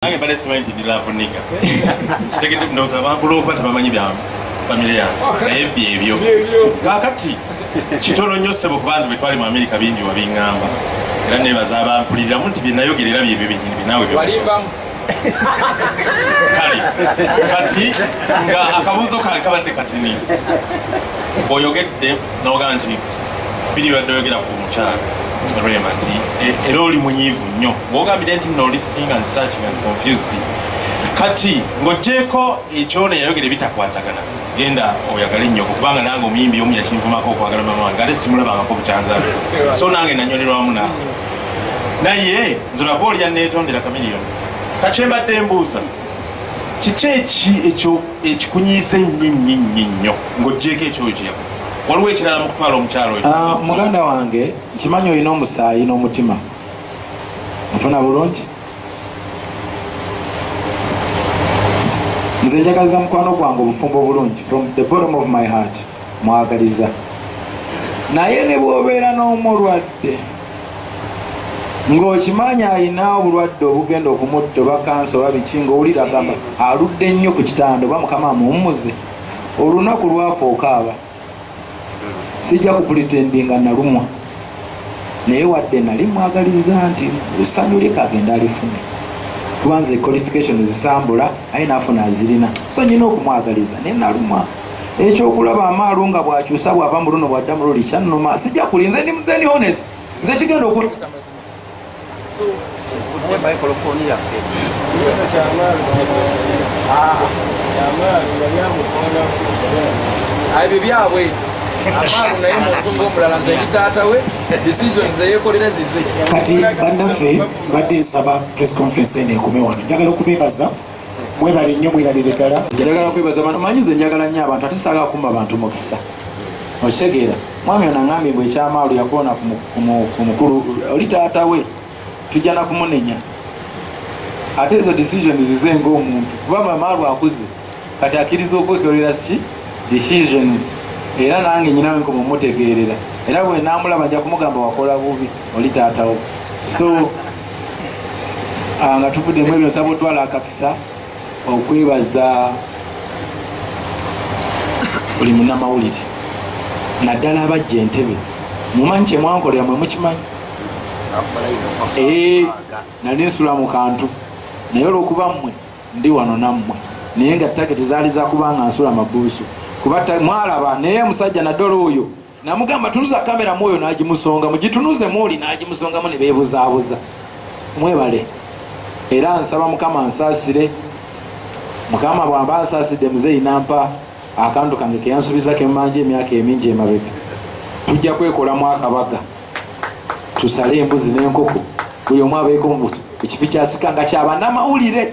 nange mbadde simanyi nti ndilavu niga kitegete ndowooza abantu lwokuba tebamanyi bya famire yange naye byebyo kakati kitono nnyo ssebo kubanzi bwe twali mu amerika bingi wabiŋŋamba era nebaza abampuliriramu nti byenayogera era byebyo byenyini binawe kale kati nga akabuuzo kange kabadde katini oyogedde noga nti biri badde yogera ku mukyala rema nti e, era oli munyiivu nnyo bwogambire nti nno olisinga nsakinga confused kati ng'ogyeko ekyona yayogera ebitakwatagana genda oyagale nnyoko kubanga nange omuyimbi omu yakinvumako okwagala mama wange ate simulabangako bukyanzabe so nange nanyolerwamu nange naye nze olaba olya neetondera kamiliyoni kakyembadde mbuuza kiki eki ekyo ekikunyiiza ennyo ennyo ennyo nnyo ng'oggyeeko ekyoyo kye yakufa waliwo ekirala mu kutwala omukyalo oyo Ah, muganda wange nkimanyi olina omusaayi n'omutima nfuna bulungi nze njagaliza mukwano gwange obufumbo obulungi from the bottom of my heart mwagaliza naye ne bwobeera n'omulwadde ng'okimanyi alina obulwadde obugenda okumutta oba kansa oba biki ng'owulira agamba aludde nnyo ku kitanda oba mukama amuwummuze olunaku lwafa okaaba sijja kupulitendi nga nalumwa naye wadde nali mwagaliza nti esanyu lye kagenda alifune kubanze qualification zisambula aye nafuna azirina so nyina okumwagaliza naye nalumwa ekyokulaba amaalo nga bwakyusa bwava mu luno bwadda mu luli kyannuma sijja kuli nze ndi muzeni hones nze kigenda okunisa ebyo byabwe amaalo naye muntu ngaomulala nze ebitaata we decisions eyekolera zize kati bannaffe badde nsaba press conference eno ekume wano njagala okubebaza mwebale nnyo mweralire ddala njagala kwebaza abantu manyi nze njagala nnyo abantu ate saga kumba bantu mukisa okitegeera mwami ono angambye mbu ekyamaalu yakoona ku mukulu oli taata we tujja nakumunenya ate ezo decision zize ngaomuntu kuba mamaalu akuze kati akkiriza okwekolera ki decisions era nange nyinawe nkoma omutegeerera era bwenamulaba nja kumugamba wakola bubi oli taatawo so ah, nga tuvudde mu ebyo nsaba otwala akakisa okwebaza buli munamawulire naddala abajja entebe mumanyi kyemwankolera mwe mukimanyi eh, nali nsula mu kantu naye olwokuba mmwe ndi wano nammwe naye nga tageti zaali zakubanga nsula mabuusu kuba mwalaba naye musajja naddala oyo namugamba tunuza kamera mwoyo nagimusonga mugitunuze mwoli nagimusongamu nebebuzabuza mwebale era nsaba mukama nsasire mukama bwamba nsasidde muzeyi nampa akantu kange keyansubiza kemanja emyaka emingi emabega tujja kwekolamu akabaga tusale embuzi nenkoko buli omu abeeko ekifi kyasika nga kyabanamawulire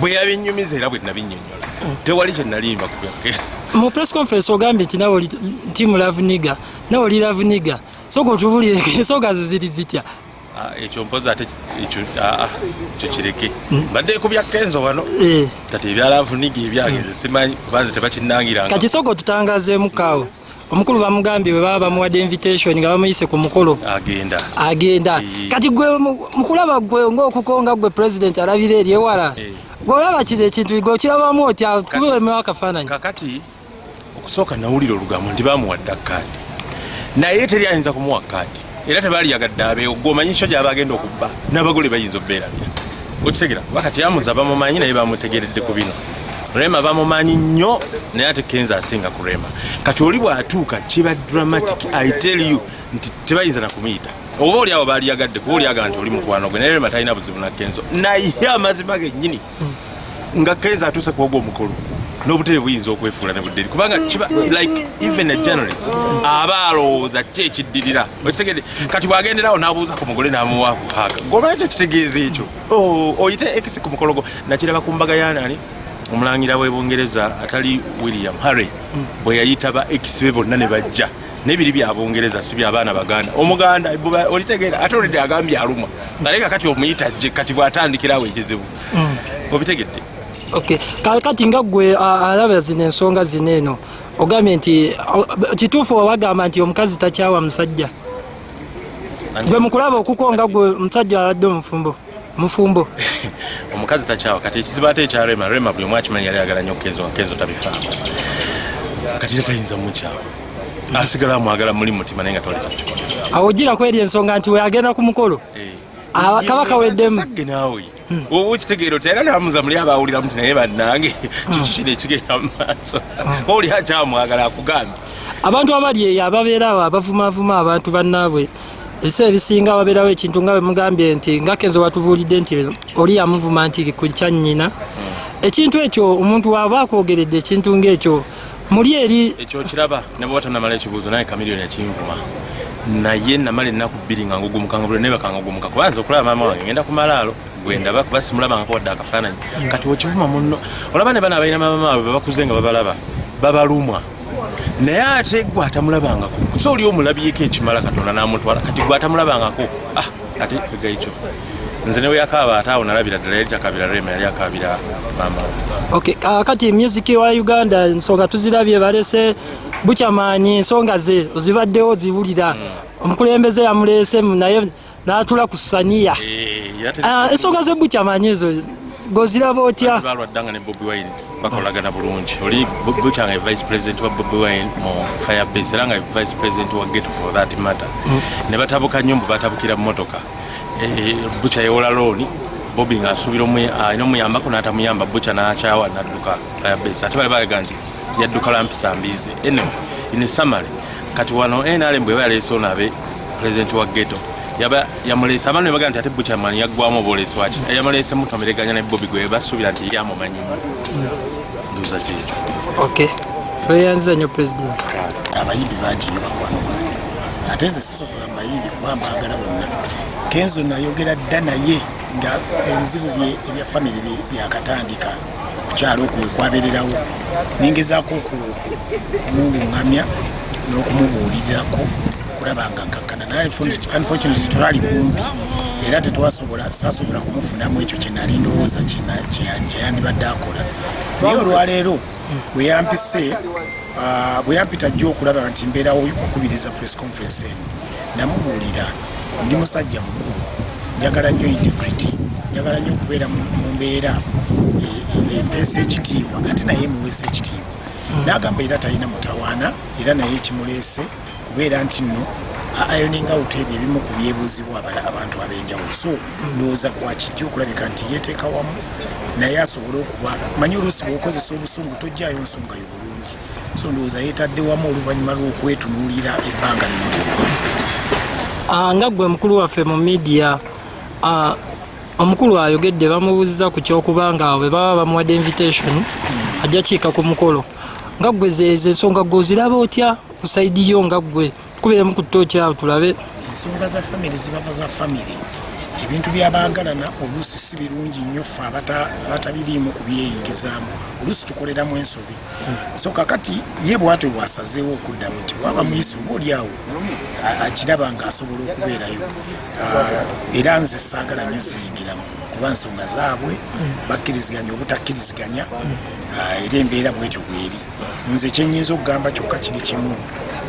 bwe yabinnyumiza era bwe nabinnyonnyola tewali kye nalimba ku byakke mu press conference ogambye nti nawe oli timu lavuniga nawe oli lavuniga soka otubulire ensonga zo ziri zitya ah, ekyo mpozi ate ekyo ah, ah, kireke hmm. mbadde ku bya kenzo wano eh. kati ebyalavuniga ebyange hmm. simanyi kubanze tebakinangiranga kati soka otutangazeemu kaawo omukulu bamugambye bwe baba bamuwadde invitation nga bamuyise ku mukolo agenda agenda kati gwe mukulaba gwe ngaokukonga gwe president alabira eri ewala eh. gweolaba kiri ekintu gwe okirabamu otya kubewemewo akafaananyi kakati okusooka nawulira olugambo nti bamuwadda kaadi naye teri ayinza kumuwa kaadi era tebaliyagadde abeewo gwomanyi kyo gyaba agenda okubba n'abagole bayinza obeerabya okitegera kuba kati amuza bamumanyi naye bamutegeredde ku bino rema bamumanyi nnyo naye ate kenza asinga ku rema kati oli bw'atuuka kiba dramatic i tell you nti tebayinza nakumuyita oba oli awo baaliyagadde kuba olyaga nti oli mukwano gwe naye rema talina buzibu na kenzo naye amazima gennyini nga kenza atuuse kuoga omukolo n'obutebe buyinza okwefuula ne budderi kubanga kiba like even a journalist aba alowooza ki ekiddirira okitegede kati bwagenderawo n'abuuza ku mugole n'amuwaaku haka goba ekyo kitegeeza ekyo oh, oyite ekisi ku mukolo gwo nakiraba ku mbaga yanani omulangira w'ebungereza atali william harry bwe yayitaba ekisibe bonna ne bajja nebiri bya bungereza si bya baana baganda omuganda olitegeera ate olidde agambye alumwa naye nga kati omuyita jje kati bw'atandikirawo ekizibu mm. obitegedde kakati nga gwe alaba zino ensonga zino eno ogambye nti kituufu wawagamba nti omukazi takyawa musajja gwe mukulaba okukonga gwe omusajja aladde omufumbo mufumbo omukazi takyawa kati ekizibu ate ekya rema rema buli omu akimanyi yali agala nyo kenzo nga kenzo tabifaako kati era tayinza mukyawa asigala amwagala muli mutima naye nga twali takikola awo ojjira kweri ensonga nti weagenda ku mukolo eh. ah, kabaka weddemu naawe hmm. oba okitegeero tera namuza muli abawuliramu ti naye bannange hmm. kiki kino ekigenda mu maaso hmm. oli akyamwagala akugambye abantu abali eyo ababeera awo abavumavuma abantu bannaabwe ebiseera ebisinga wabeerawo ekintu nga bwemugambye nti nga kenzo watubuulidde nti oli yamuvuma nti ku kyannyina ekintu ekyo omuntu waaba akwogeredde ekintu ngaekyo muli eri ekyo kiraba nebwoba tonamala ekibuuzo naye kamiliyoni akinvuma naye namala ennaku bbiri nga ngugumukangabula naye bakangugumuka kuba nze okulaba maama wange ngenda ku malaalo gwendaba kuba simulabangako wadde akafaananyi kati okivuma munno olaba ne bana abalina maama baabwe babakuze nga babalaba babalumwa naye ate gwe atamulabangako so oli omulabyeko ekimala katonda namutwala kati gwe atamulabangako ah, ate kwegaikyo nze newe yakaaba ate awo nalabira ddala yali takabira rema yali akabira mama okay. uh, kati music wa uganda ensonga tuzirabye balese bukyamaanyi ensonga ze ozibaddewo ziwulira mm. omukulembeze yamuleese naye natula ku saniya eh, ah, ensonga zebukya manyi ezo goziraba otya balwaddanga ne bobi wine bakolagana bulungi oli bukya nga vice president wa bobi wine mu firebase era nga vice president wa geto for that matter mm. ne batabuka nnyo mbu batabukira mumotoka eh, eh, bukya yewola looni bobi nga asuubira alina ah, omuyambako n'atamuyamba bukya n'akyawa nadduka firebase ate bali balega nti yadduka lampisa mbiizi ene in summary kati wano nrm bweba yaleese onabe pulezidenti wa geto yaba yamuleese abantu ne bagamba nti ate buchaman yaggwamu obwoleesi waki eh, yamuleese mutomereganya ne bobi gwe basuubira nti yamumanyimu nduuza kyekyo okay tweyanziza nyo president abayimbi bangi nyo bakwano bwange ate nze sisosola mu bayimbi kuba mbaagala bonna kenzo nayogera dda naye nga ebizibu bye ebya famiry byakatandika okukyalo okwo wekwabererawo nengezaako okumulungamya n'okumubuulirirako okulaba nga nkakkana naye unfortunately tetwali kumpi era tetwasobola sasobola kumufunamu ekyo kyenali ndowooza kyeyandibadde akola naye olwaleero bwe yampise ah, bwe yampita jjo okulaba nti mbeerawo okukubiriza press conference eno namubuulira ndi musajja mukulu njagala nnyo integrity njagala nnyo okubeera mu mbeera empeesa e, e, ekitiibwa ate naye emuweesa ekitiibwa hmm. n'agamba era talina mutawaana era naye ekimuleese kubeera nti nno ayoninga out ebyo ebimu ku byebuuzibwa abantu ab'enjawulo so ndowooza kwakijja okulabika nti yeeteeka wamu naye asobole okuba manyi oluusi bw'okozesa obusungu tojjayo nsonga yo bulungi so ndowooza yeetadde wamu oluvannyuma lw'okwetunuulira ebbanga lino ah, nga gwe mukulu waffe mu midiya ah, omukulu ayogedde bamubuuziza ku kyokuba nga bwe baba bamuwadde invitation hmm. ajja kiika ku mukolo nga gwe zeezo ensonga gwe oziraba otya ku saidi yo nga gwe Kubeemu ku ttooki awo tulabe. Ensonga za famire zibava za famire. Ebintu by'abaagalana oluusi si birungi nnyo ffe abatabiriimu kubyeyingizaamu. Oluusi tukoleramu ensobi. So kakati ye bwatyo bwasazeewo okuddamu nti bwaba muyise oba oli awo akiraba ng'asobola okubeerayo. Ah, era nze saagala nnyo ziyingiramu kuba nsonga zaabwe bakkiriziganya obutakkiriziganya ah, era embeera bwetyo bweri. nze kyenyinza okugamba kyokka kiri kimu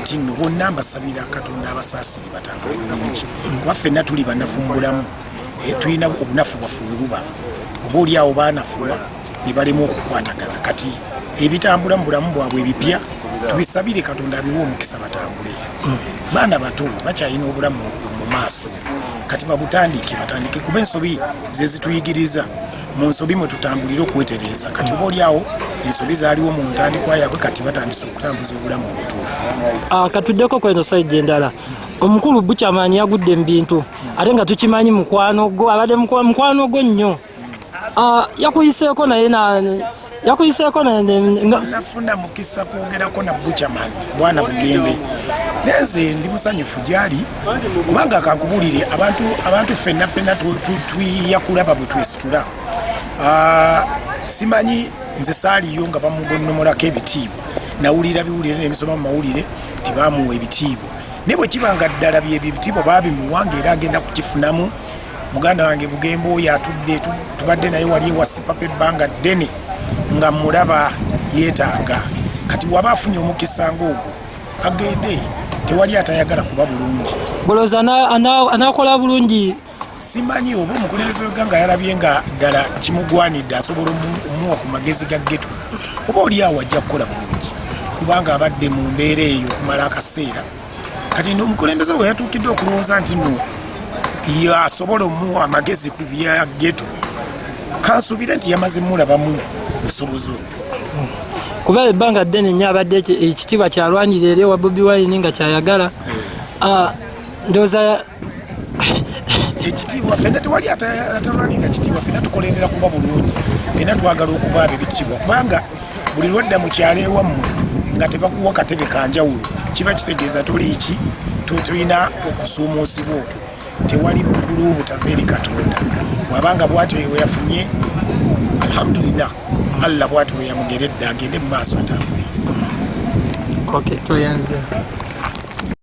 nti nno bonna mbasabira katonda abasaasire batambule bulungi kuba ffenna tuli banafu mu bulamu eh, tulina obunafu bwaffe webuba oba oli awo baanafuwa ne balemu okukwatagana kati ebitambula mu bulamu bwabwe ebipya tubisabire katonda abiwa omukisa batambule baana bato bakyalina obulamu mu maaso kati babutandike batandike kuba ensobi zezituyigiriza mu nsobi mwe tutambulira okwetereeza kati oba olyawo ensobi zaaliwo mu ntandikwa yaabwe kati batandise okutambuza obulamu obutuufu ah, katuddeko kweno saidi endala omukulu bukyamaanyi yagudde mu bintu ate nga tukimanyi mukwano gwo abadde mukwano gwo nnyo ah, yakuyiseeko naye yakuyiseeko nafuna mukisa kwogerako na buchaman bwana bugembe nenze ndi musanyufu gyali kubanga kankubulire abantu abantu fenna fenna tuyakulaba bwe twesitula ah, simanyi nze saaliyo nga bamugonnomolako ebitiibwa nawulira biwulire nebisoma mu mawulire tibamuwa ebitiibwa naye bwe kiba nga ddala byebyo ebitiibwa babimuwanga era agenda kukifunamu muganda wange bugembe oyo atudde tubadde naye wali ewa sipapa ebbanga ddene nga mulaba yeetaaga kati waba afunye omukisa ngaogwo agende tewali atayagala kuba bulungi boloza anakola bulungi simanyi oba omukulembeze weganga yalabye nga ddala kimugwanidde asobola omuwa ku magezi ga geto oba oli awo ajja kukola bulungi kubanga abadde mu mbeera eyo okumala akaseera kati nomukulembeze we yatuukidde okulowooza nti no yasobola omuwa amagezi ku bya geto kansuubire nti yamaze mulabamu busobozi obwo kuba ebbanga ddene nnyo abadde ekitiibwa kyalwanirira eri owa bobi wine nga kyayagala eh. ah, ndooza ekitiibwa fena tewali atalwanirira kitiibwa fena tukolerera kuba bulungi fena twagala okuba abo ebitiibwa kubanga buli lwadda mu kyalo ewammwe nga tebakuwa katebe kanjawulo kiba kitegeeza tuliiki tulina okusuumuusibwa okwo tewali bukulu obutava eri katonda bwabanga bwatyo yeweyafunye alhamdulillah allah bwatyo weyamugeredde agende mu maaso atambule okay,